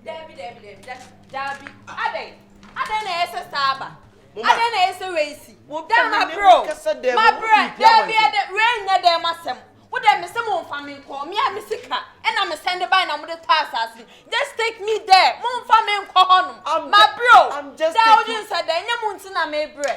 Dabi, dabi, dabi, dabi, dabi. Adɛn? Adɛn na ɛyɛ sɛ saa aba? Mama. Adɛn na ɛyɛ sɛ wei si? Wopɛ Dɛn me ma ne bro? wo kasa dɛn Ma mu, bro, wopɛ pia dabi wɔn ɛdɛ, wei nyɛ dɛm asɛm. Wo dɛ me sɛ momfa me nkɔ, me a me sika ɛna me sɛn de bae na mode tɔ asase no. Just take me there, momfa me nkɔ hɔnom. I'm Ma ju- bro, I'm just dɛ wode taking- nsɛ dɛ, ɛnyɛ mo nti na mebrɛ.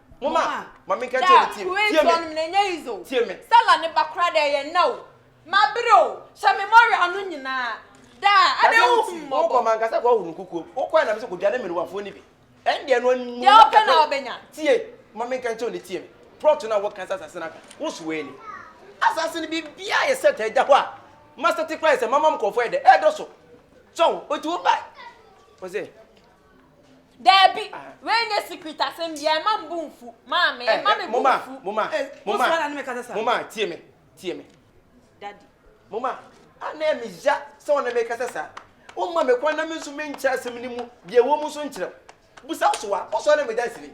Mama, ma me nka kyerɛ ne tie me. Tie me. Na ɛnyɛ yizo. Tie me. Stella ne ba kora dɛ yɛ nna o. Ma bere o. Hyɛ me mɔre ano nyinaa. Da, adɛ wo hu mmɔbɔ. Wokɔ ma nkasa kɔ huru nkukuo. Wokɔɛ na me sɛ kɔ dwane mmerewafoɔ ni bi. Ɛn deɛ no anu. Deɛ ɔpɛ na ɔbɛnya. Tie, ma me nka kyerɛ ne tie me. Prɔt no a wɔka sɛ asase no aka. Wo so w'ani. Asase no biribiara yɛ sɛt ɛda hɔ a. Masa te kora yɛ sɛ mama mkɔfoɔ yɛ dɛ. Ɛdɔ so. Sɔho, ɔti wo ba. Ɔsɛ, Daabi, wei nyɛ secret asɛm biara, mma me bo mfu, maame, mma me bo mfu. Moma, moma, eh, moma, Wosoma na ne me kasa sa. moma, tie me, tie me. Daddy. Moma, a na ɛme ya sɛ wo na me kasa sa. Womma me kwan na me nso me nkyerɛ asɛm no mu deɛ ɛwɔ mu nso nkyerɛ wo. Busa wo so a, wosɔre na me dansini.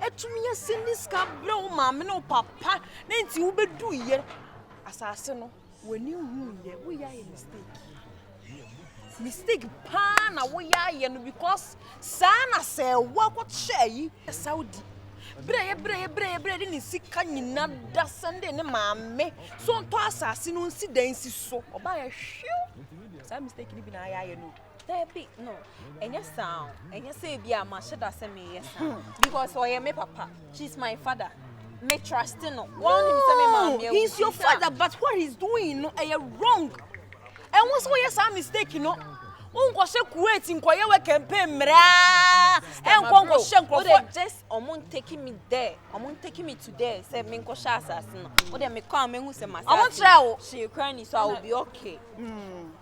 atumi asi ne sika abrɛ wo maame ne wo papa na nti wobɛduiɛ asase no w'ani huiɛ woyɛ ayɛ mistake mistake paa na woyɛ ayɛ no because saa na sɛ woakɔhyɛ ayi saudi berɛ yɛ berɛ yɛ berɛ yɛ berɛ de ne sika nyina da sɛnde ne maame so ntɔ asase no nsi dan si so ɔbaa yɛ hwew saa mistake no bi na ayɛ ayɛ no Dabi no, ɛnyɛ saa o. Ɛnyɛ sɛ ebi a mahyɛ da sɛ meyɛ saa. Because ɔyɛ me papa. She's my father. Me trust no. Wɔn nim sɛ me maame awu. He's your father but what he's doing no ɛyɛ wrong. Ɛho sɛ wɔyɛ saa mistake no. Wonkɔhyɛ Kuwait nkɔyɛ wɔ campaign mmeraa. Ɛnkɔ nkɔhyɛ nkurɔfoɔ. Wode just ɔmo ntake me there. Ɔmo ntake me to there sɛ menkɔhyɛ asase no. Wode mekɔ a mehu sɛ masase. Ɔmo kyerɛ wo. Hyɛ kura ni so I will be okay. Mm.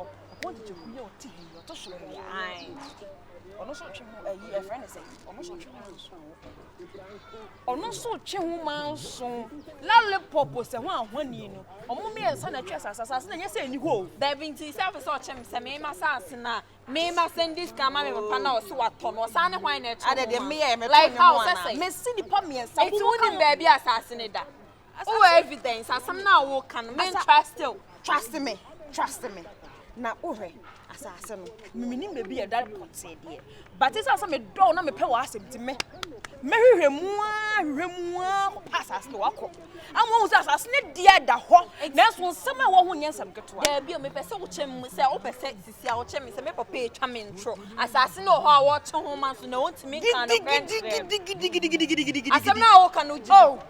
ɔpɔn tete kunu yɛ ɔte ha yi ɔtɔ so wɔ yɛ ae ɔno nso twe ho ayi ɛfrɛ ne sɛ ɔno nso twe ho nso ɔno nso twe ho ma nso lollipop sɛ ho ahoni no ɔmo mmiɛnsa na ɛtwe asase asase na ɛnyɛ sɛ ɛni hɔ o. daabi nti sɛ afei sɛ ɔkyɛm sɛ mema saase no a mema sɛndi sika ma me papa na ɔse watɔ no ɔsan ne hwan na ɛtwe ho ma like how sɛ sɛ mesi nipa mmiɛnsa nti wonim baabi a saase no da wowɔ evidence asɛm no a woka no me trust o trust me trust me na wohwɛ asase no memenim baabi a ɛda pɔtee deɛ bate sɛ sɛ medɔw na mepɛ wɔ asɛm ti me mɛhwehwɛ mu a hwehwɛ mu a kɔpa asase no wakɔ ama wohu sɛ asase no deɛ da hɔ nanso nsɛm a ɛwɔ ho nyɛ nsɛm ketewa daabi o mepɛ sɛ wokyɛ mu sɛ wopɛ sɛ sisi a wokyɛ me sɛ me papa ɛtwa me ntoro asase no wɔ hɔ a wɔkye ho ma so na ɔntumi nka no pɛ asɛm no a woka no gyi oh,